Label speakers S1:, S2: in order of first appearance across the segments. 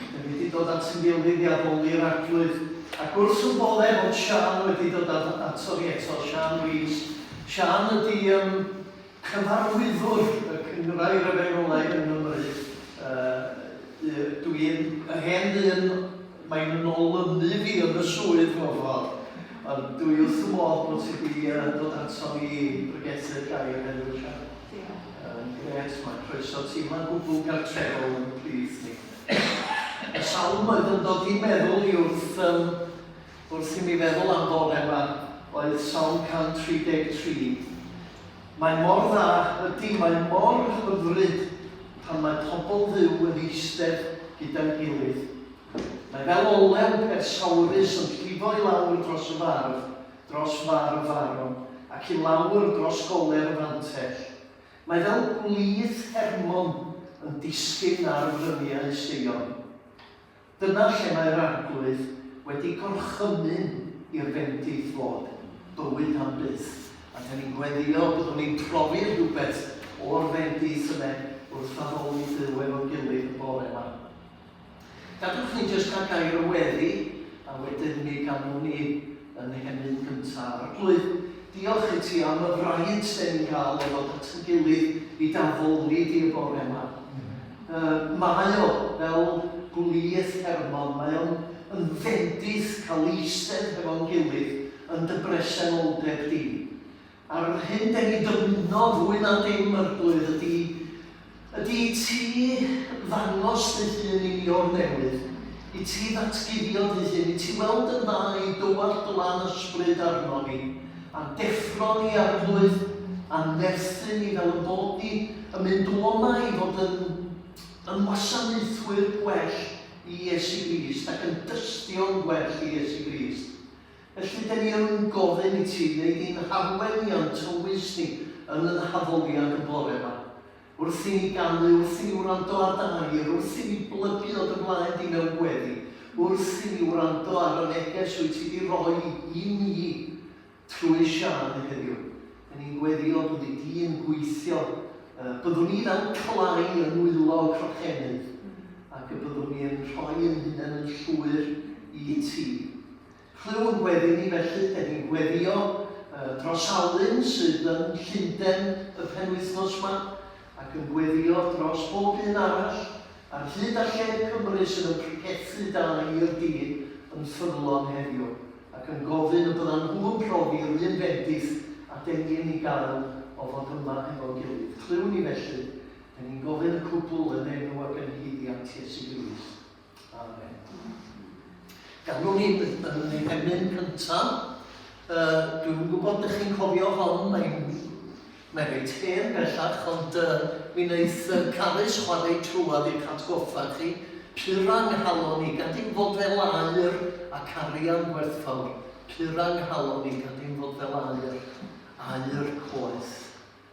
S1: Rydym wedi dod at ein gilydd i addoli'r Arglwydd, ac wrth y bore fod Siân wedi dod ato ni eto, Siân Rees. Siân ydy yym cyfarwyddwr y Cynghrair Efengwlaidd yng Nghymru. Yy y- dw i'n yr hen ddyn, mae'n yn olynu fi yn y swydd mewn ffordd, ond dw i wrth fy modd bod ti wedi yy dod ato ni i bregethu'r gair heddiw, Siân. Diolch. Yn grêt, mae croeso teimlad gwbl gartrefol yn plith ni. Mae sawl oed yn dod i'n meddwl i wrth yym wrth i mi feddwl am fore ma oedd Salm 133. Mae mor dda, ydy, mae mor hyfryd pan mae pobl Dduw yn eistedd gyda'n gilydd. Mae fel olew persaurus yn llifo i lawr dros y fardd dros far y Faron ac i lawr dros goler y Fantell. Mae fel gwlith Hermon yn disgyn ar fryniau Seion. Dyna lle mae'r Arglwydd wedi gorchymyn i'r bendith fod bywyd am byth. A dan ni'n gweddïo byddwn ni'n profi rhywbeth o'r bendith yna wrth addoli Duw efo'n gilydd y bore 'ma. Gadewch ni jyst cael gair o weddi a wedyn mi ganwn ni yn Nhennydd Gynta' Arglwydd. Diolch i ti am y fraint 'den ni'n cael o ddod at ein gilydd i dy addoli di y bore 'ma. Yy mae o fel gwlith ffermog, mae o'n yn fendith cael eistedd hefo'n gilydd yn dy bresenoldeb di. Ar yr hyn den ni dymuno fwy na dim Arglwydd ydi, ydi i ti ddangos dy hun i ni o'r newydd, i ti ddatguddio dy hun, i ti weld yn dda i dywallt dy lan ysbryd arnon ni, a'n deffro ni Arglwydd, a'n nerthu ni fel y bod ni yn mynd o yma i fod yn, yn wasanaethwyr gwell i Iesu Grist ac yn dystion gwell i Iesu Grist. Felly, dyn ni yn gofyn i ti wneud i'n harwen ni a'n tywys ni yn y haddoliad yn bore yma. Wrth i ni ganu, wrth i ni wrando ar dy air, wrth i ni blygu o dy flaen di mewn gweddi, wrth i ni wrando ar y neges wyt ti di roi i ni trwy Siân heddiw, dyn ni'n gweddio dy fod di yn gweithio, y byddwn ni fel clai yn nwylo y crochennydd, ac y byddwn ni yn rhoi yn hunain yn llwyr i ti. Clyw yn gweddu ni felly, dyn ni'n gweddio dros Alun sydd yn Llundain y penwythnos ma, ac yn gweddio dros bob un arall ar hyd a lled Cymru sydd yn pregethu da i'r dyn yn ffyddlon heddiw, ac yn gofyn y byddan nhw yn profi yr un bendith a dyn ni yn ei gael o fod yma hefo'n gilydd. Clyw ni felly, dyn ni'n gofyn y cwbl yn enw ac ynghuddiant Iesu Grist. Amen. Gadw ni yn yn ei emyn cyntaf. Uh, dwi'n gwybod ydych chi'n cofio hon, mae'n mae reit hen bellach, ond uh, mi wneud uh, Carys chwarae trwad i'r catgoffa chi, purang halon ni, gan dim fod fel air ac arian gwerthfawr, purang halon ni, gan dim fod fel air, air coeth.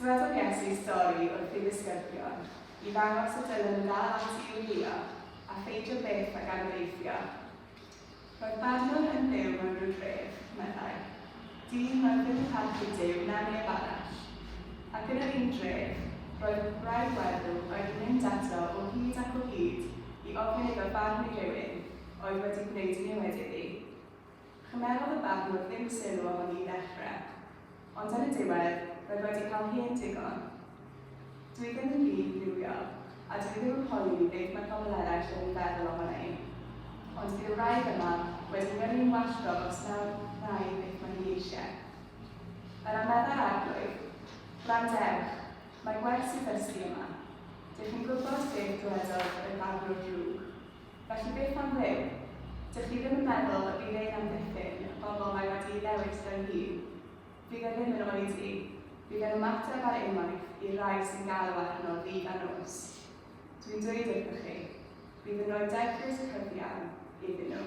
S2: Dywedodd Iesu stori wrth ei ddisgyblion i ddangos sut dylem ni ddal ati i wylio a pheidio byth ag anobeithio. Roedd barnwr yn byw mewn rhyw dref, meddai, dyn oedd ddim yn parchu Duw na neb arall. Ac yn yr un dref, roedd gwraig weddw oedd yn mynd ato o hyd ac o hyd i ofyn iddo farn i rywun oedd wedi gwneud niwed iddi. Chymerodd y barnwr ddim sylw ohoni i ddechrau, ond ar y diwedd, roedd wedi cael hen digon. Dw i ddim yn rhydd fywiog, a dw i ddim yn poeni beth mae pobl eraill yn ei feddwl ohona i. Ond bydd y wraig yma wedi mynnu'n wallgo os na wna i beth mae hi eisiau. Yr a meddai'r Arglwydd, Gwrandewch, mae gwerth sydd ddysgu yma. Dych chi'n gwybod beth ddywedodd yr barnwr drwg? Felly beth am ddim? Dych chi ddim yn meddwl y bydd ein amddiffyn y bobl mae wedi'i ddewis fel hyn? Fydd e ddim yn oedi. Bydd e'n ymateb ar unwaith i'r rhai sy'n galw arno ddydd a nos. Dwi'n dweud wrthoch chi, bydd yn rhoi deglys cyfiawn iddyn nhw.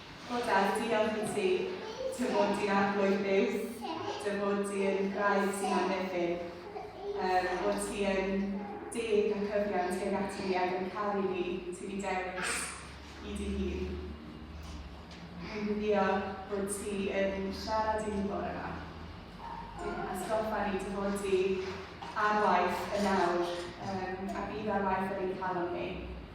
S2: O Dad, diolch i ti. Dy fod di'n Arglwydd byw. Dy fod di yn Wraig sy'n amddiffyn. Yr bod ti yn deg a cyfiawn tuag ata ni ac yn caru ni, ti di dewis i dy hun. Rwy'n gweddïo bod ti yn siarad i ni bore ma. Dim atgoffa ni dy fod di ar waith yn nawr, yym, a bydd ar waith ar ein calon ni.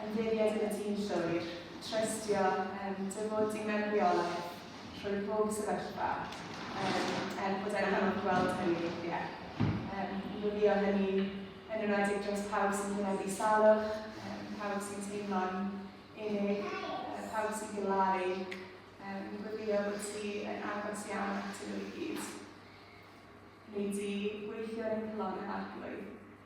S2: Ymddiried yn y dyn llwyr, trystio yn dy fod di mewn rheolaeth trwy bob sefyllfa, um, er bod e'n anodd gweld hynny weithiau. Um, yn gwylio hynny yn yr adeg dros pawb sy'n gwneud salwch, um, pawb sy'n teimlo'n unig, uh, pawb sy'n gilaru, um, yn gwylio bod ti yn agos iawn at y nhw i gyd. Neu di gweithio yn y cyflonau arglwydd.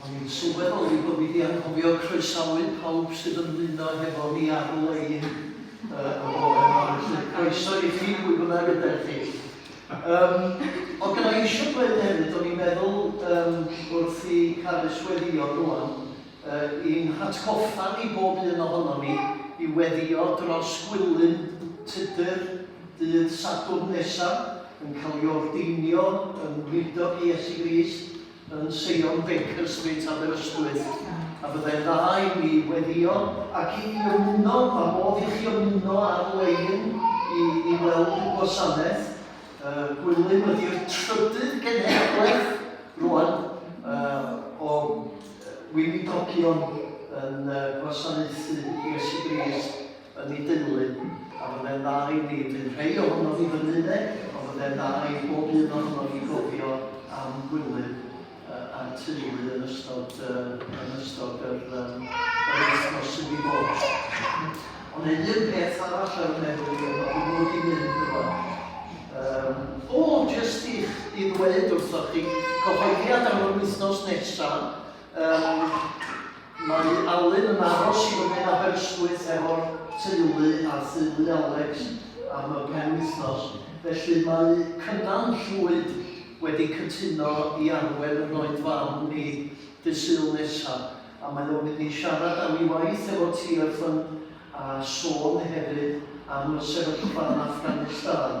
S1: O'n i'n sylweddoli bod fi 'di anghofio croesawu pawb sy'n ymuno hefo ni ar-lein y bore 'ma, felly croeso i chi pwy bynnag ydych chi. Yym, oedd gynna i eisiau dweud hefyd, o'n i'n meddwl yym wrth i Carys weddio rŵan, yy i'n hatgoffa ni bob un ohonon ni i weddio dros Gwilym Tudur dydd Sadwrn nesa, yn cael ei ordeinio yn weinidog i Iesu Grist, yn Seion Baker Street, Aberystwyth, a byddai'n dda i mi weddio ac i mi ymuno, ma' modd i chi ymuno ar-lein i i weld y gwasanaeth. Yy Gwilym ydi'r trydydd genhedlaeth rwan yy o yy weinidogion yn yy gwasanaethu Iesu Grist. yn ei deulu, a fyddai'n dda i ni fynd rhei ohonof i fyny de, ond fyddai'n dda i bob un ohonof i gofio am Gwilym uh, a'r teulu yn ystod, uh, yn ystod yr, um, yr wythnos sydd wedi bod. Ond ei un peth arall ar y meddwl i yma, dwi'n mwyn i mynd yma. Um, o, jyst i'ch i ddweud wrthoch chi, cyhoeddiad am yr wythnos nesaf, Yym, mae Alun yn aros i fyny yn Aberystwyth efo'r teulu ar theulu Alex am y penwythnos, felly mae Cynan Llwyd wedi cytuno i arwen y Noid Fam ni Dydd Sul nesa, a mae o'n mynd i siarad am ei waith efo TFN a sôn hefyd am y sefyllfa yn Afghanistan.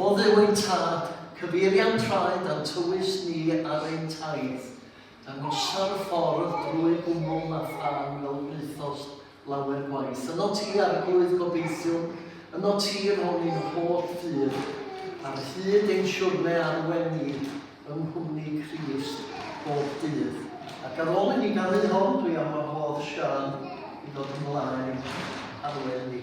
S1: O Dduw ein Tad, cyfeirian traed a'n tywys ni ar ein taith, dangosa'r ffordd drwy gwmwl na phan fel gwnaethost lawer gwaith. Yno ti Arglwydd gobeithiwn, yno ti rhwng ein holl ffydd, ar hyd ein siwrne arwen ni yng nghwmni Crist bob dydd. Ac ar ôl i ni ganu hon, dwi am wahodd Siân i ddod ymlaen arwen ni.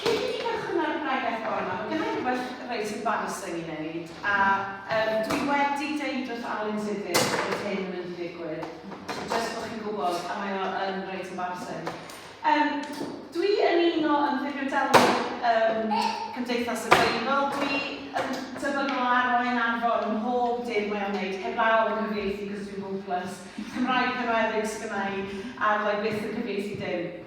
S2: Cyn i ni gychwyn ar y bregeth bore yma, mae gynna i rywbeth reit embarrassing i wneud, a um, dwi wedi deud wrth Alun Sifyr bod hyn yn mynd i ddigwydd, jyst bod chi'n gwybod, a mae o yn reit embarrassing. Um, dwi yn un o ymddifrio delwedd um, Cymdeithas y Beibl, dwi yn tebygol o arwain yn arfor ym mhob dim mae o'n gwneud, heb law yn cyfieithu cos dwi'n hopeless, Cymraeg penwedig sydd gennau, a fyddai byth yn cyfieithu dim.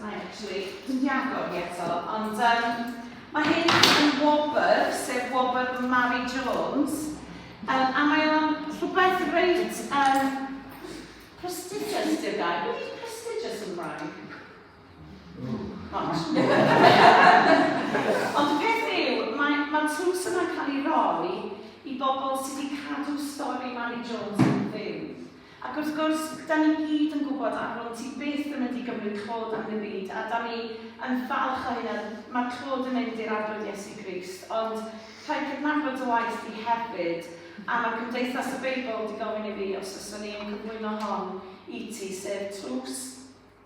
S2: Mae actually, dwi'n di agor hi eto, ond um, mae hyn yn wobr, sef wobr Mary Jones, um, a mae o'n rhywbeth reit um, prestigious, di'r gair. Beth yw prestigious yn Gymraeg? Ond. Ond y peth yw, mae, mae tlws yma'n cael ei roi i bobl sydd wedi cadw stori Mary Jones yn fyw. Ac wrth gwrs, dan ni gyd yn gwybod a wn ti byth yn mynd i gymryd clod am ddim byd, a dan ni yn falch o hynna, mae'r clod yn mynd i'r Arglwydd Iesu Grist, ond rhaid cydnabod dy waith di hefyd, a mae Cymdeithas y Beibl di gofyn i fi os fyswn i'n cyflwyno hon i ti, sef Tlws.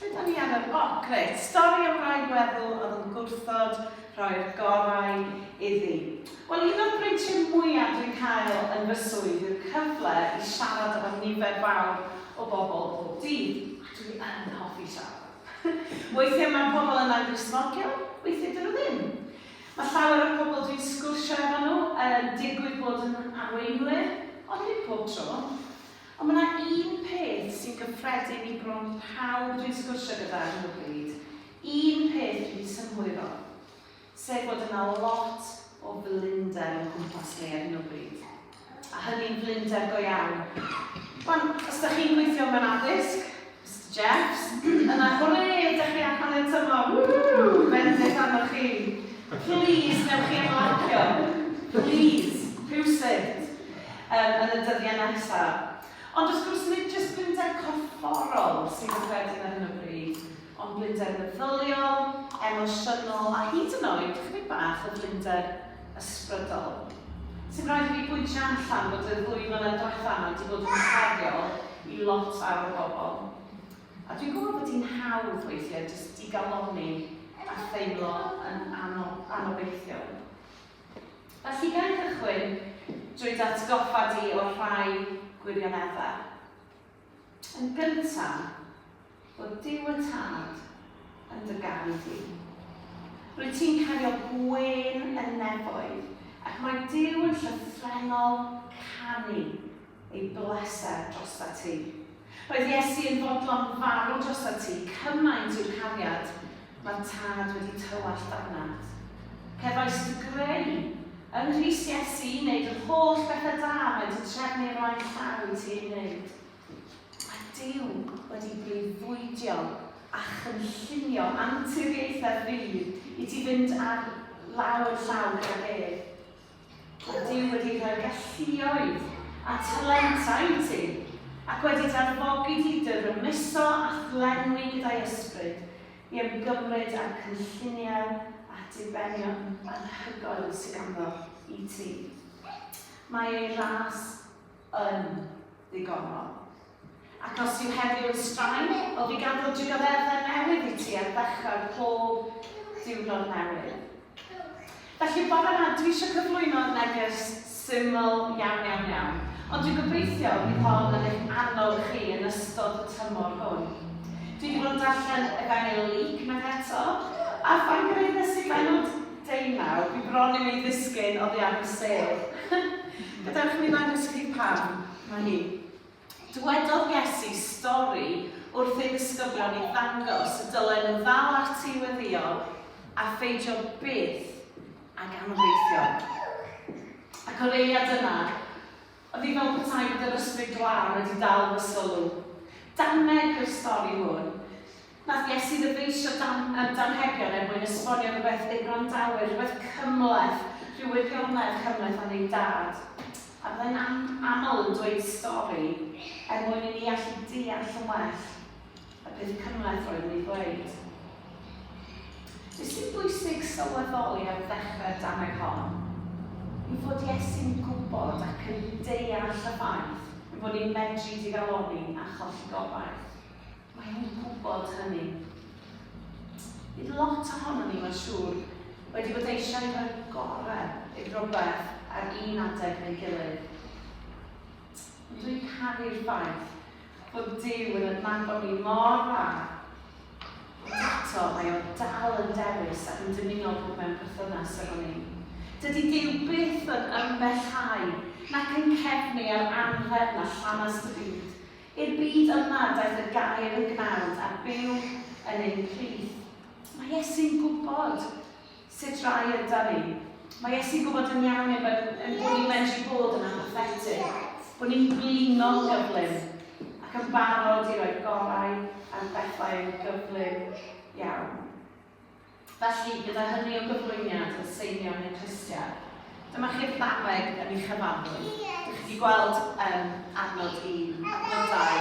S2: Lle da ni ar yr... O, grêt! Stori am rai weddw oedd yn gwrthod rhoi'r gorau iddi. Wel, un o'r breintiau mwyaf dwi'n cael yn fy swydd yw'r cyfle i siarad efo nifer fawr o bobl bob dydd, a dwi yn hoffi siarad. Weithiau mae pobl yna'n Gristnogion, weithiau 'dyn nhw ddim. Mae llawer o'r pobl dwi'n sgwrsio efo nhw yn digwydd bod yn arweinwyr, ond nid pob tro. Ond mae 'na un peth sy'n gyffredin i bron pawb dwi'n sgwrsio gyda ar hyn o bryd, un peth dwi 'di synhwyro, sef bod yna lot o flinder o'n cwmpas ni ar hyn o bryd, a hynny'n flinder go iawn. Wan, os 'da chi'n gweithio mewn addysg, Steps yna hwre da chi am hanner tymor woo bendith arnoch chi plîs newch chi ymlacio plîs rhywsut yym yn y dyddiau nesa ond wrth gwrs nid jyst blinder corfforol sydd yn wedyn ar hyn o bryd ond blinder meddyliol emosiynol a hyd yn oed chydig bach o flinder ysbrydol. Sy'n rhaid i mi bwyntio allan bod y ddwy flynedd diwetha' 'ma 'di bod yn heriol i lot fawr o bobl. A dwi'n gwybod bod hi'n hawdd weithiau jyst digalonni a theimlo yn anob- anobeithiol. Felly, ga i gychwyn drwy dy atgoffa di o'r rhai gwirioneddau? Yn gyntaf, bod Duw y Tad yn dy garu di. Rwyt ti'n cario gwên yn nefoedd, ac mae Duw yn llythrennol canu ei bleser drosta ti. Roedd Iesu yn fodlon farw drosta ti, cymaint yw'r cariad Mae tad wedi tywallt dannedd. Cefais fy greu yng Nghrist Iesu i wneud yr holl bethau da mae di trefnu o flaen llaw i ti ei wneud. Mae Duw wedi breuddwydio a chynllunio anturiaethau rhydd i ti fynd ar law yn llaw gydag ef. Rydym wedi rhoi galluoedd a talentau i ti, ac wedi
S3: d'anfogi di i dy rymuso a'th lenwi gyda'i ysbryd i ymgymryd â'r cynlluniau a dibenion anhygoel sy ganddo i ti. Mae ei ras yn ddigonol. Ac os yw heddiw yn straen, o fi gadw digoddefdau newydd i ti ar ddechrau pob diwrnod newydd. Felly bore ma dwi eisiau cyflwyno neges syml iawn iawn iawn, ond dwi'n gobeithio bydd hon yn eich annog chi yn ystod y tymor hwn. Dwi wedi bod yn darllen Efengyl Luc unwaith eto, a phan gyhoeddes i bennod deunaw, dwi bron i'w i ddisgyn oddi ar fy sedd. Gadewch i mi ddangos i chi pam. Mae hi. Dywedodd Iesu stori wrth ei ddisgyblion i ddangos y dylen nhw ddal ati i weddïo a pheidio byth ag anobeithio. Ac o'r eiliad yna, oedd hi fel petai bod yr ysbryd glân wedi dal fy sylw. Dameg yw'r stori hwn. Nath Iesu ddyfeisio dan yr anrhegion er mwyn esbonio rhywbeth i'r gwrandawyr, rhywbeth cymhleth, rhyw wirionedd cymhleth am ei Dad. A fyddai'n am aml yn dweud stori er mwyn i ni allu deall yn well y peth cymhleth roedd yn ei ddweud. Be sy'n bwysig sylweddoli ar ddechrau'r dameg hon yw fod Iesu'n gwybod ac yn deall y ffaith ein bod ni'n medru digalonni a cholli gobaith. Mae hi'n gwybod hynny. Bydd lot ohonon ni, mae'n siŵr, wedi bod eisiau rhoi'r gorau i'r brobeth ar un adeg neu'i gilydd. Ond dwi'n caru'r ffaith bod Duw yn adnabod ni mor dda, ond eto mae o dal yn dewis ac yn dymuno bod mewn perthynas efo ni. Dydy Duw byth yn ymbellhau nac yn cefnu ar anrhefn a llanast y byd. I'r byd yma daeth y Gair yn gnawd a byw yn ein plith. Mae Iesu'n gwybod sut rai yda ni. Mae Iesu'n gwybod yn iawn ein bod ein bod ni'n medru bod yn apathetig, bod ni'n blino'n gyflym ac yn barod i roi gorau ar bethau yn gyflym iawn. Felly, gyda hynny o gyflwyniad wrth seinio neu'n rhestr, dyma chi'r ddameg yn ei chyfanrwydd. Dych chi wedi gweld um, adnod un, adnod dau.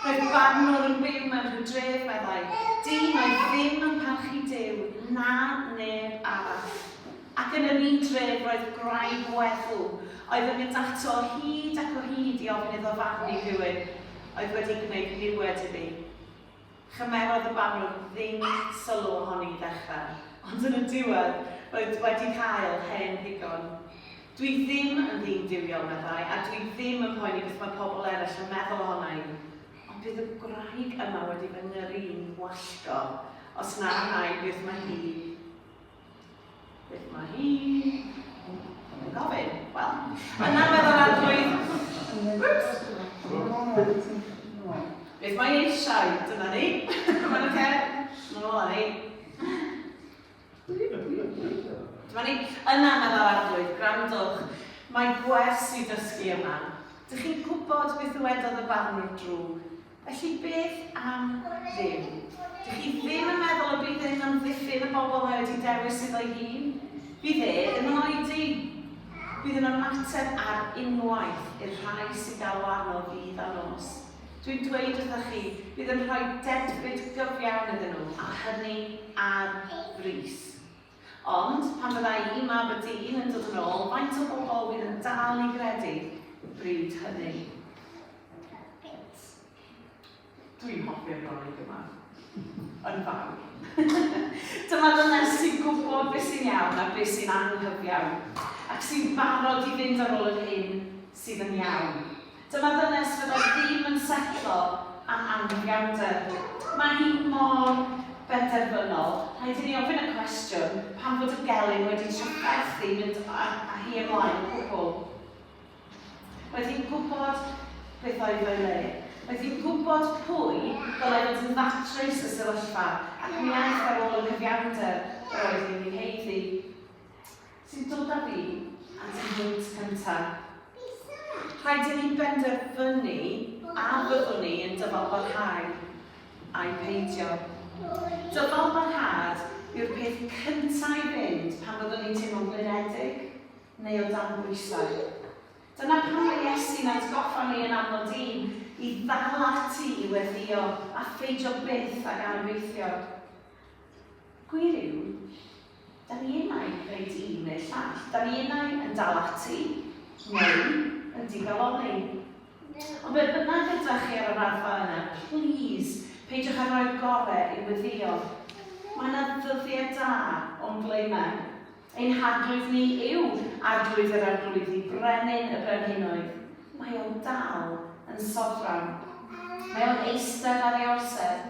S3: Roedd barnwr yn byw mewn rhyw dref, meddai, dyn oedd ddim yn parchu Duw na neb arall. Ac yn yr un dref roedd gwraig weddw, oedd yn mynd ato o hyd ac o hyd i ofyn iddo farnu rhywun oedd wedi gwneud niwed iddi. Chymerodd y banwr ddim sylw ohoni i ddechrau, ond yn y diwedd roedd wedi cael hen ddigon. Dwi ddim yn ddyn duwiol, meddai, a dwi ddim yn poeni beth mae pobl eraill yn meddwl ohona i. Ond bydd y gwraig yma wedi fy ngyrru'n wallgo os na wna i beth mae hi Beth mae hi? Mae'n gofyn. Wel, mae'n arfer o'r adrwydd. Beth mae eisiau? Dyna ni. Mae'n oce. Mae'n ola ni. Dyma ni. Yna mae'r arallrwydd, grandwch. Mae gwers i ddysgu yma. Dych chi'n gwybod beth ddywedodd y barnwr drwg? Felly beth am ddim? Dych chi ddim yn meddwl y bydd hyn yn amddiffyn y bobl mae wedi dewis iddo'i hun? Bydd e ddim yn oedi. Bydd yn ymateb ar unwaith i'r rhai sy'n galw arno ddydd a nos. Dwi'n dweud wrthoch chi, bydd yn rhoi dedfryd gyfiawn iddyn nhw, a hynny ar frys. Ond, pan fydda i, mab y dyn, yn dod yn ôl, faint o bobl fydd yn dal i gredu bryd hynny? Dwi'n hoffi'r rolig yma. Yn fawr. Dyma ddynes sy'n gwybod beth sy'n iawn a beth sy'n anghyfiawn, ac sy'n barod i fynd ar ôl yr hyn sydd yn iawn. Dyma ddynes fyddai ddim yn setlo am amgueddfawnder. Mae hi mor benderfynol. Rhaid i ni ofyn y cwestiwn, pam fod y gelyn wedi tryggaru chdi mynd â hi ymlaen o gwbl? Roedd hi'n gwybod beth oedd o'i le. Roedd hi'n gwybod pwy ddylai fod yn ddatrys y sefyllfa, ac mi aeth ar ôl y cyfiawnder yr oedd hi'n ei heiddi. sy'n dod â fi at y hwynt cyntaf. Rhaid i ni benderfynu a byddwn ni yn dyfalbarhau ai peidio. Dyfalbarhad yw'r peth cyntaf i fynd pan fyddwn ni'n teimlo'n blinedig neu o dan bwysau. Dyna pam mae Iesu'n atgoffa ni yn aml dyn i ddal ati i weddïo a pheidio byth ag anobeithio. Gwir yw, Da ni unai, rhaid un neu'r llall. Da ni unai yn dal ati, neu yn digalonni. Ond be bynnag ydach chi ar y raddfa yna, plîs, peidiwch â rhoi'r gorau i'w weddïo. Mae yna ddyddiau da o'n ble i mewn. Ein Harglwydd ni yw Arglwydd yr Arglwyddi, Brenin y Brenhinoedd. Mae o dal yn sofran. Mae o'n eistedd ar ei orsedd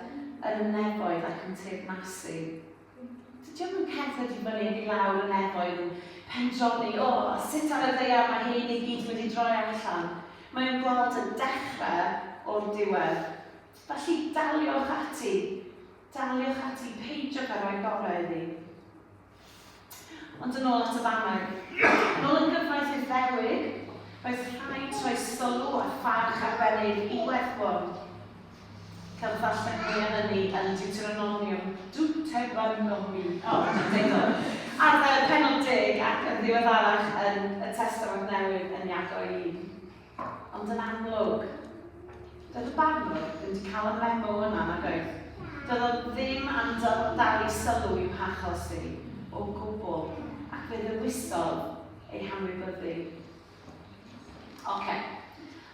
S3: yn y nefoedd ac yn teyrnasu. Dydy o'm yn cerdded i fyny ac i lawr y nefoedd yn pendroni, o, sut ar y ddaear mae hyn i gyd wedi droi allan. Mae o'n gweld y dechrau o'r diwedd. Felly daliwch ati. Daliwch ati, peidiwch â rhoi gorau iddi. Ond yn ôl at y fannau. Yn ôl y gyfraith i'r ddewig, roedd rhaid rhoi sylw a pharch arbennig i werthbon. Cael y darllen mwy am ynni yn Deuteronomium. Deuteronomium. O, oh, mae'n degol. Ar y penod deg ac yn ddiweddarach yn y Testament Newydd yn Iago i. Ond yn amlwg, doedd y barnwr ddim wedi cael y memo yna nag oedd. Doedd o ddim am dal i sylw i'w hachos hi o gwbl ac fe ddewisodd ei hanwybyddu. Oce.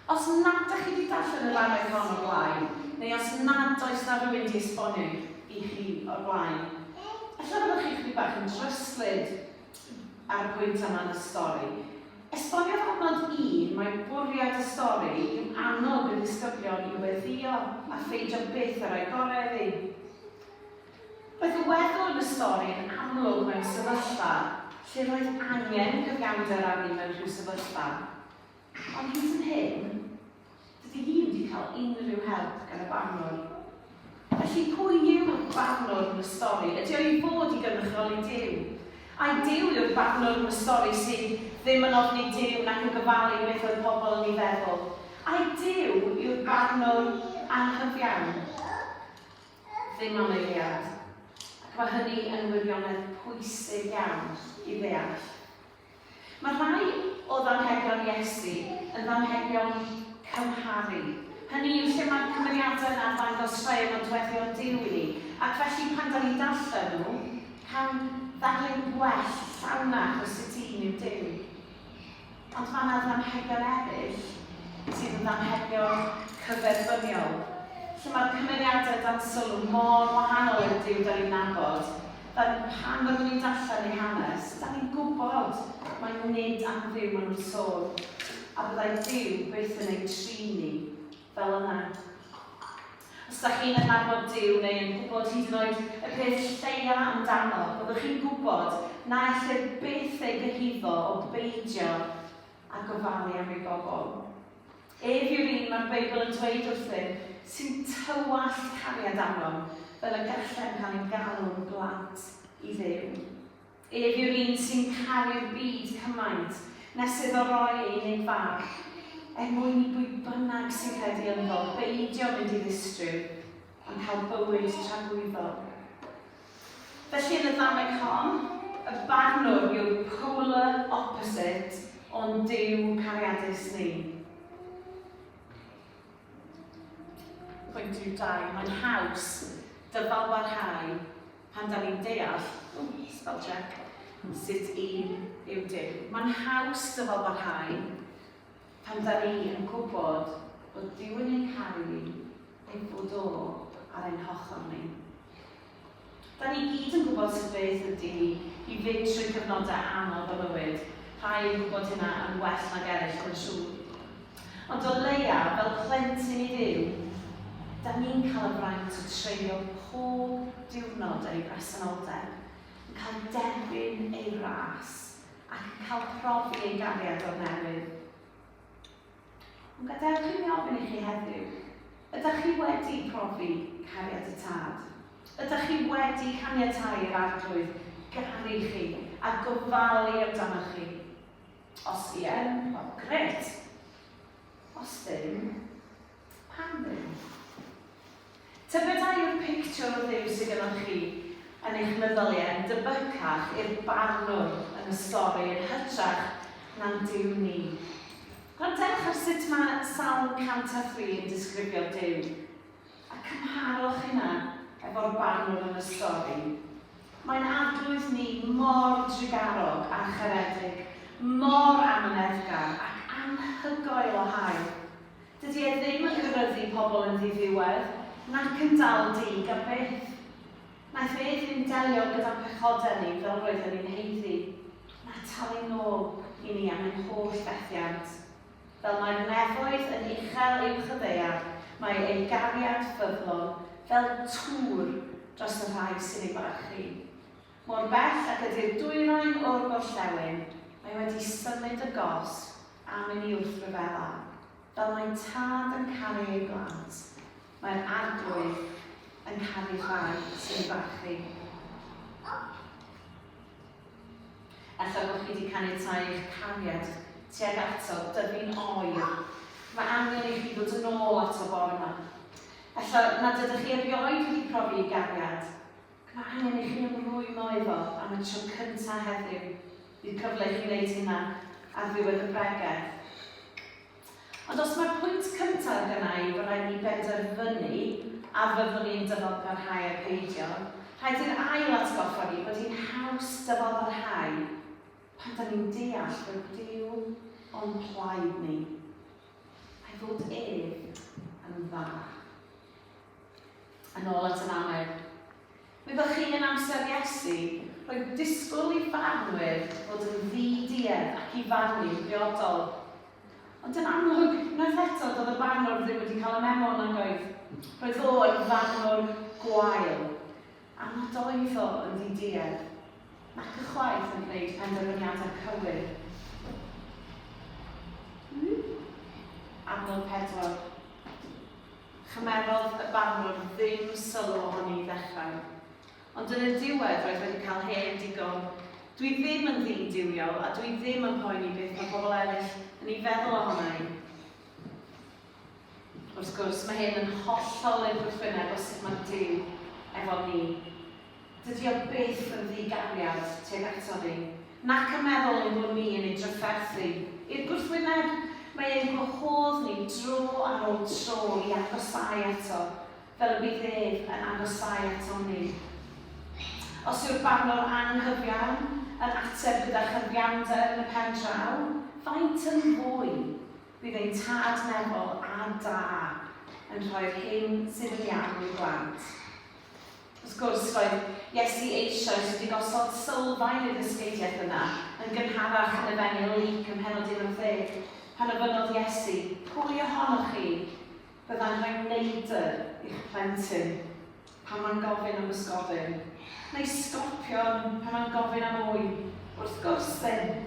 S3: Os nad ydych chi wedi darllen y ddarllen hon o'r blaen, neu os nad oes na rhywun wedi esbonio i chi o'r blaen, efallai byddwch chi chydig bach yn dryslyd ar y pwynt yma yn y stori. Esboniodd adnod un mai bwriad y stori yw annog y disgyblion i weddïo a pheidio byth â rhoi gorau iddi. Roedd y weddw yn y stori'n amlwg mewn sefyllfa lle roedd angen cyfiawnder arni mewn rhyw sefyllfa, ond hyd yn hyn, dydy hi wedi cael unrhyw help gan y barnwr. Felly pwy yw'r barnwr yn y stori? Ydy o i fod i gynrychioli Duw? Ai Duw yw'r barnwr yn y stori sydd ddim yn ofni Duw nac yn gofalu beth oedd pobl yn ei feddwl? Ai Duw yw'r barnwr anghyfiawn? ddim am eiliad, ac mae hynny yn wirionedd pwysig iawn i ddeall. Mae rhai o ddamhegion Iesu yn ddamhegion cymharu, hynny yw lle mae'r cymeriadau yna yn dangos rhai o nodweddion Duw i ni, ac felly pan da ni'n darllen nhw, cawn ddarlun gwell, llawnach o sut un yw Duw. Ond mae yna ddamhegion eraill sydd yn ddamhegion cyferbyniol, lle mae'r cymeriadau dan sylw mor wahanol i'r Duw da ni'n nabod. Da, pan fyddwn ni'n darllen eu hanes, da ni'n gwybod mai nid am Dduw maen nhw'n sôn, a byddai Duw byth yn eu trin ni. Fel yna. Os dach chi'n adnabod Duw neu yn gwybod hyd yn oed y peth lleia amdano, byddwch chi'n gwybod na ellir byth ei gyhuddo o beidio â gofalu am ei bobl. Ef yw'r un mae'r Beibl yn dweud wrthym sy'n tywallt cariad arnom fel y gallem cael ein galw'n blant i Dduw. Ef yw'r un sy'n caru'r byd cymaint na sydd o roi ei unig farch er mwyn i bwy bynnag sy'n credu ynddo beidio mynd i ddistryw, ond cael bywyd tragwyddol. Felly yn y ddameg hon, y barnwr yw'r polar opposite o'n Duw cariadus ni. Pwynt rhif dau, mae'n haws dyfalbarhau Pan dan ni'n deall, o, spell check, sut i yw dim, mae'n haws dyfalbarhau pan dan ni yn gwybod bod Duw yn ein caru ni, ei fod o ar ein hochr ni. Da ni gyd yn gwybod sut beth ydy hi i fynd trwy gyfnodau anodd o fywyd, rhai yn gwybod hynna yn well nag eraill, mae'n siŵr. Ond o leia, fel plentyn i Dduw, 'da ni'n cael y fraint o treulio pob diwrnod yn ei bresenoldeb, yn cael derbyn ei wrâs, ac yn cael profi ei gariad o'r newydd. Ond gadewch i mi ofyn i chi heddiw, ydych chi wedi profi cariad y Tad? Ydych chi wedi caniatáu i'r Arglwydd garu chi a gofalu amdanoch chi? Os ie, wel grêt. Os ddim, pam ddim? Tybed a yw'r pictiwr o Dduw sydd gynnoch chi yn eich meddyliau yn debycach i'r barnwr yn y stori yn hytrach na'n Duw ni? Gwrandewch ar sut mae Salm 103 yn disgrifio Duw. A cymharwch hynna efo'r banwr yn y stori. Mae'n Arglwydd ni mor drugarog a charedig, mor amyneddgar ac anhygoel o hael. Dydy e ddim yn cyryddu pobl yn ddiddiwedd, nac yn dal dug am byth. Naeth e ddim delio gyda'n pechodau ni fel roedden ni'n haeddu, na talu nôl i ni am ein holl fethiant. Fel mae'r nefoedd yn uchel uwch y ddaear, mae ei gariad ffyddlon fel tŵr dros y rhai sy'n ei barchu. Mor bell ag ydy'r dwyrain o'r gorllewin, mae wedi symud y gosb am i ni wrth ryfela. Fel mae tad yn caru ei blant, mae'r Arglwydd yn caru'r rhai sy'n ei barchu. Ella bod chi wedi caniatáu i'ch cariad tuag ato dyfu'n oer. Mae angen i chi ddod yn ôl ato bore yma. Ella nad ydych chi erioed wedi profi i gariad, ac mae angen i chi ymrwymo iddo am y tro cyntaf heddiw. Bydd cyfle i chi wneud hynna ar ddiwedd y bregeth. Ond os mai'r pwynt cyntaf gynna i fod rhaid i ni benderfynu a fyddwn ni'n dyfalparhau a'i pheidio, rhaid i'r ail atgoffa fi bod hi'n haws dyfalparhau pan 'da ni'n deall bod Duw o'n plaid ni, a'i fod ef yn dda. Yn ôl at y Mannedd. Byddwch chi yn amser Iesu, roedd disgwyl i farnwyr fod yn ddi-duedd ac i farnu'n briodol. Ond yn amlwg, unwaith eto, doedd y barnwr ddim wedi cael y memo, nag oedd? Roedd o yn farnwr gwael, a nad oedd o yn ddi-duedd, nac ychwaith yn gwneud penderfyniadau cywir. Adnod pedwar. Chymerodd y barnwr ddim sylw ohoni i ddechrau. Ond yn y diwedd roedd wedi cael hen digon. Dwi ddim yn ddyn duwiol a dwi ddim yn poeni beth mae pobl eraill yn ei feddwl ohona i. Wrth gwrs, mae hyn yn hollol ein gwrthwyneb o sut mae Duw efo ni. Dydi o byth yn ddi-gariad tuag ato fi, nac yn meddwl ein bod ni yn ei drafferthu i'r gwrthwyneb, mae e'n gwahodd ni dro ar ôl tro i agosáu ato, fel y bydd ef yn agosáu atom ni. Os yw'r barnwr anghyfiawn yn ateb gyda chyfiawnder yn y pen draw, faint yn fwy bydd ein tad meddwl a da yn rhoi'r hyn sydd yn iawn i'w blant. Wrth gwrs, roedd Iesu eisoes wedi gosod sylfaen i'r ddysgeidiaeth yna, yn gynharach yn Efengyl Luc ym mhennod 11, pan ofynnodd Iesu, Pwy ohonoch chi fyddai'n rhoi neidr i'ch plentyn pan mae'n gofyn am bysgodyn, neu sgorpion pan mae'n gofyn am ŵyn? Wrth gwrs ddim!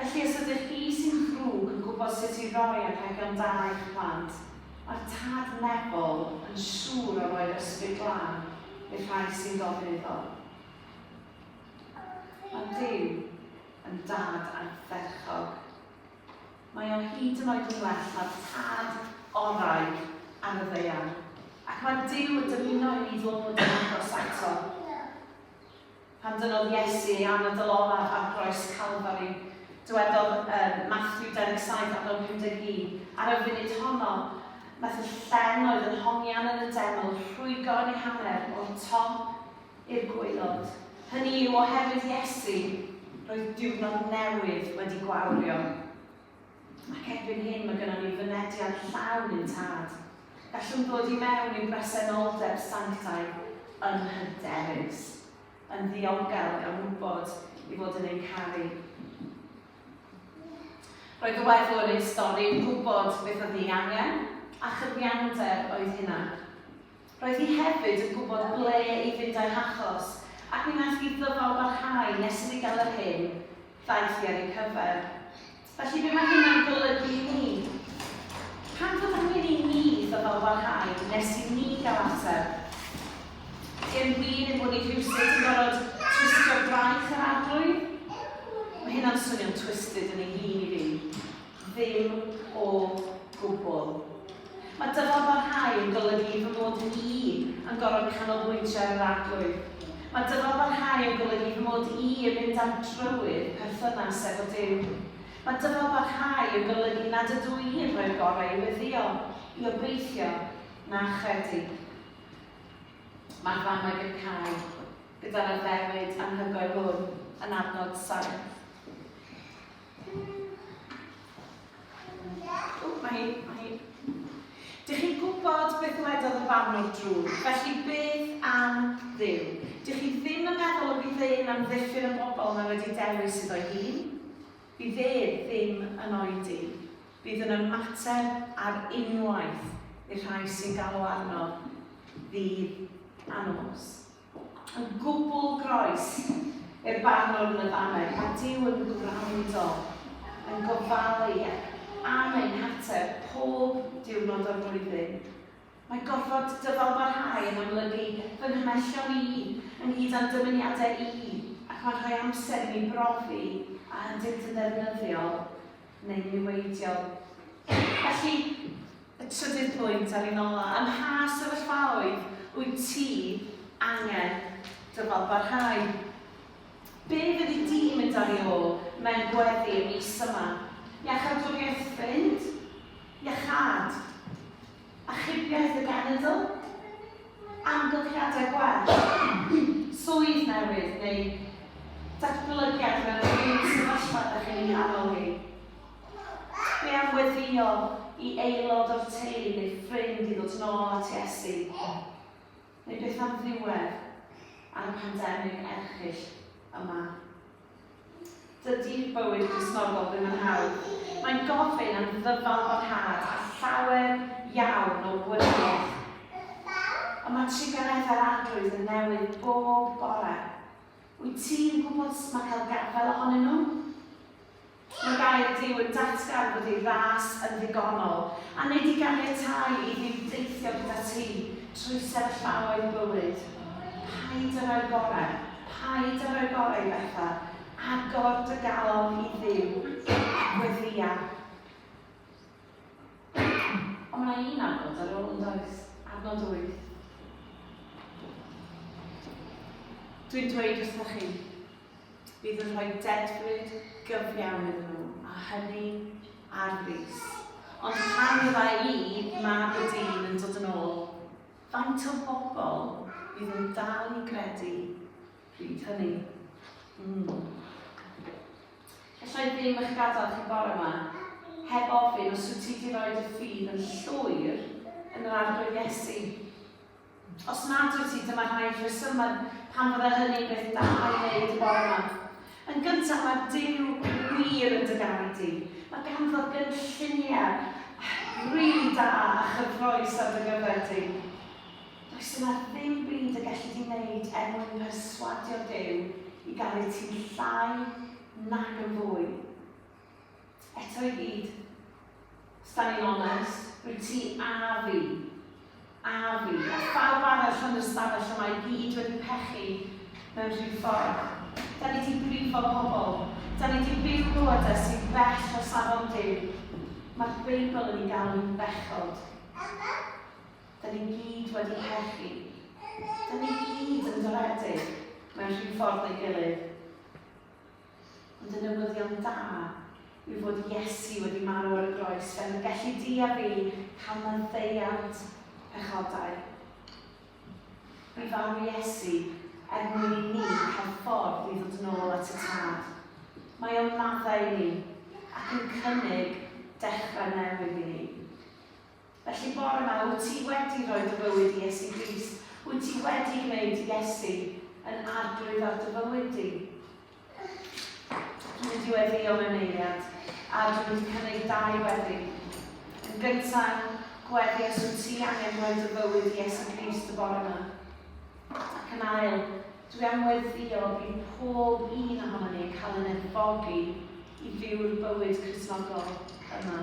S3: Felly os ydych chi sy'n ddrwg yn gwybod sut i roi archebion da i'ch plant, mae'r tad Nebel yn siŵr o roi'r ysbryd glân i'r rhai sy'n gofyn iddo. Mae Duw yn Dad ardderchog. Mae o hyd yn oed yn well na'r tad orau ar y ddaear, ac mae Duw yn dymuno i ni ddod yn agos ato. Pan dynnodd Iesu ei anadl olaf ar groes Calfari, dywedodd ym Mathew 27 ac yn 51, Ar y funud honno, wnaeth y llen oedd yn hongian yn y deml rhwygo yn ei hanner o'r top i'r gwaelod. Hynny yw, oherwydd Iesu, roedd diwrnod newydd wedi gwawrio. Ac erbyn hyn mae gynnon ni fynediad llawn i'n Tad. Gallwn ddod i mewn i'n bresenoldeb sanctaidd yn hyderus, yn ddiogel gan wybod i fod yn ein caru. Roedd y weddw yn ein stori yn gwybod beth oedd ei angen a chyfiawnder oedd hynna. Roedd hi hefyd yn gwybod ble i fynd â'i hachos ac mi wnaeth hi ddyfal barhau nes iddi gael yr hyn ddaeth hi ar ei cyfer. Felly be mae hynna'n golygu i ni? Pan fod angen i ni ddyfal barhau nes i ni gael ateb, di'n wir ein bod ni rhywsut yn gorfod twistio braich yr Arglwydd? Mae hynna'n swnio'n twisted yn ei hun i fi. Ddim o gwbl. Mae dymor barhau yn golygu fy mod i yn gorfod canolbwyntio ar yr Arglwydd. Mae dymor barhau yn golygu fy mod i yn mynd ar drywydd perthynas efo Duw. Mae dymor barhau yn golygu nad ydw i yn rhoi'r gorau i weddïo, i obeithio, na chredu. Mae'r ddamwain yn cau gyda'r addewid anhygoel hwn yn adnod saith. O, mae hi, mae hi. Dych chi'n gwybod beth wedodd y barnwr drwg, felly beth am ddew? Dych chi ddim yn meddwl y bydd e'n amddiffyn y bobl mae wedi dewis iddo hun? Bydd e ddim yn oedi. Bydd yn ymateb ar unwaith i'r rhai sy'n galw arno ddydd a nos. Yn gwbl groes i'r Barnwr yn y Baned, mae Duw yn gwrando, yn gofalu am ein hateb pob diwrnod o'r flwyddyn. Mae gorfod dyfalbarhau yn amlygu fy nghymellion i, ynghyd â'n dymuniadau i, ac mae'n rhoi amser i mi brofi a ydynt yn ddefnyddiol. neu niweidiol. Felly, y trydydd pwynt ar un ola, ym mha sefyllfaoedd wyt ti angen dyfal barhau? Be fyddi di mynd ar i ôl mewn gweddi y mis yma? Iachawdwriaeth ffrind? Iachâd? Achubiaeth y genedl? Amgylchiadau gwell? Swydd newydd neu datblygiad mewn unrhyw sefyllfa ydych chi'n ei nghanol hi? Be am weddïo i aelod o'r teulu neu ffrind i ddod nôl at Iesu? Neu beth am ddiwedd ar y pandemig erchyll yma? Dydy bywyd Cristnogol ddim yn hawdd. Mae'n gofyn am ddyfalbarhad a llawer iawn o wrywaidd. Ond mae triganiaeth a'r Arglwydd yn newid bob bore. Wyt ti'n gwybod sut mae cael gafael ohonyn nhw? Mae gair Duw yn datgan bod ei ras yn ddigonol, a nid i ganiatáu i Dduw deithio gyda ti trwy sefyllfaoedd bywyd. Paid â rhoi gorau Paid â rhoi gorau i bethau. Agor dy galon i Dduw. Gweddïa. Ond mae yna un adnod ar ôl, yn does? Adnod wyth. Dwi'n dweud wrthoch chi, bydd yn rhoi dedfryd gyfiawn iddyn nhw, a hynny ar frys. Ond pan fydda i, mab y dyn, yn dod yn ôl, Faint o bobl fydd yn dal i gredu pryd hynny? Mm. Alla i ddim eich gadael chi bore yma heb ofyn os wyt ti wedi rhoi dy ffydd yn llwyr yn yr Arglwydd Iesu. Os nad wyt ti, dyma rhai rhesymau pan fydde hynny'n beth da i wneud y bore yma. Yn gyntaf, mae Duw wir yn dy garu di. Mae ganddo gynlluniau rili da a chyffrous ar dy gyfer di. Does yna ddim byd y gelli di wneud er mwyn perswadio Duw i garu ti'n llai nag yn fwy. Eto i gyd, os da ni'n onest, rwy ti a fi, a fi, a phawb arall yn y stafell yma i gyd wedi pechu mewn rhyw ffordd. Da ni di brifo pobl, da ni di byw bywydau sy'n bell o safon Duw. Mae'r Beibl yn ei galw'n bechod. Da ni gyd wedi pechu. Da ni gyd yn doredig mewn rhyw ffordd neu gilydd. Ond y newyddion da yw fod Iesu wedi marw ar y groes fel y gelli di a fi cael maddeuant pechodau. Bu farw Iesu er mwyn i ni cael ffordd i ddod nôl at y Tad. Mae o'n maddau i ni ac yn cynnig dechrau newydd i ni. Felly bore ma, wyt ti wedi rhoi dy fywyd i Iesu Grist? Wyt ti wedi gwneud Iesu yn arglwydd ar dy fywyd di? Dwi'n mynd i weddio mewn eiliad, a dwi'n mynd i cynnig dau weddi. Yn gyntaf, gweddi os wyt ti angen rhoi dy fywyd i Iesu Grist y bore yma. Ac yn ail, dwi am weddio i pob un ohono ni cael yn edfogi i fyw'r bywyd Crisnogol yma.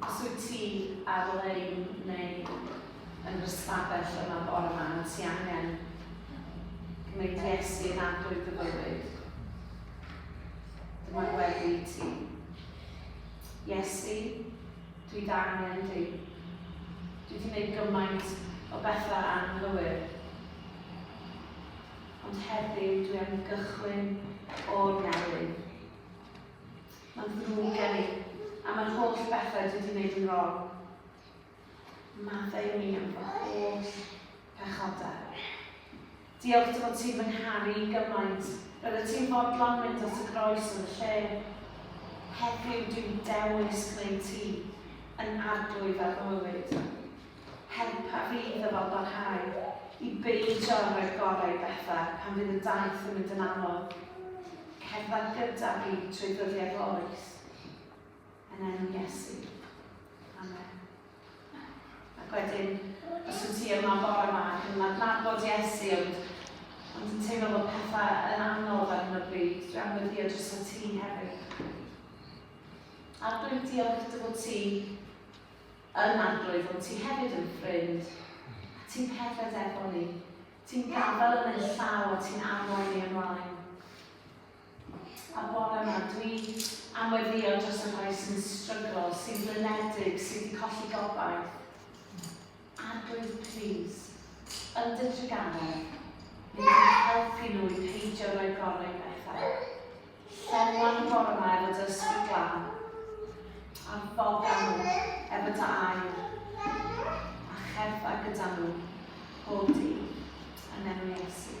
S3: Os wyt ti ar-lein neu yn yr ystafell yma bore yma, a ti angen gwneud Iesu yn adwy dy fywyd, dyma gweddi i ti. Iesu, dwi d'angen di. Dwi wedi gwneud gymaint o bethau anghywir. Ond heddiw dwi am gychwyn o'r newydd. Mae'n ddrwg gen i, am yr holl bethau dwi wedi gwneud yn wrong. Maddau mi am fy holl pechodau. Diolch dy fod ti'n fy ngharu i gymaint. Roeddet ti'n fodlon mynd at y groes yn y lle. Heddiw dwi'n dewis gwneud ti yn arglwydd ar fy mywyd. Helpa fi i ddyfalbarhau, i beidio â rhoi'r gorau i bethau pan fydd y daith yn mynd yn anodd. Cerdded gyda fi trwy ddyddiau'r loes. Yn enw Iesu. Amen. Ac wedyn, os wyt ti yma bore yma ac yn adnabod Iesu, ond, ond yn teimlo bod pethau yn anodd ar hyn o bryd, dwi am weddio dros y ti hefyd. Ar dwi'n diolch dy fod ti Yn Arglwydd, wyt ti hefyd yn ffrind, a ti'n cerdded efo ni. Ti'n gadael yn ein llaw a ti'n arwain ni ymlaen. A bore yma, dwi am weddio dros y rhai sy'n stryglo, sy'n blynedig, sydd wedi colli gobaith. Arglwydd, plis, yn dy drugaredd, bydd yn helpu nhw i peidio rhoi gorau i bethau. Llenwai gornel y dysg yn glan, a ffoda nhw heb y da air, a cherddai gyda nhw bob dydd yn enw Iesu.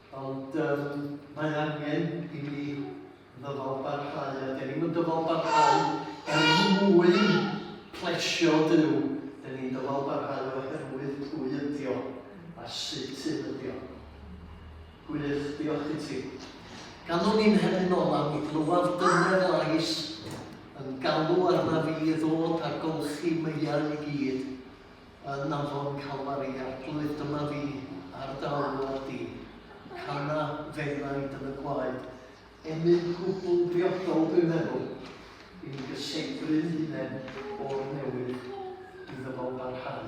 S1: Ond um, mae angen i ni ddyfal barhau, a dyn ni'n dyfal barhau er mwyn plesio Dyw. Dyn ni'n dyfal barhau oherwydd pwy ydio a sut sydd ydio. Gwych, diolch i ti. Ganwn ni'n hefyd nol am i glywed dyner lais yn galw arna fi i ddod ar golchi meiau i gyd yn afon Calfari Arglwydd dyma fi ar dy alwad di. Cana fennaid yn y gwaed. Emyn gwbl briodol dwi'n meddwl. I'n gysegryn hunain o'r newydd iddo fo barhau.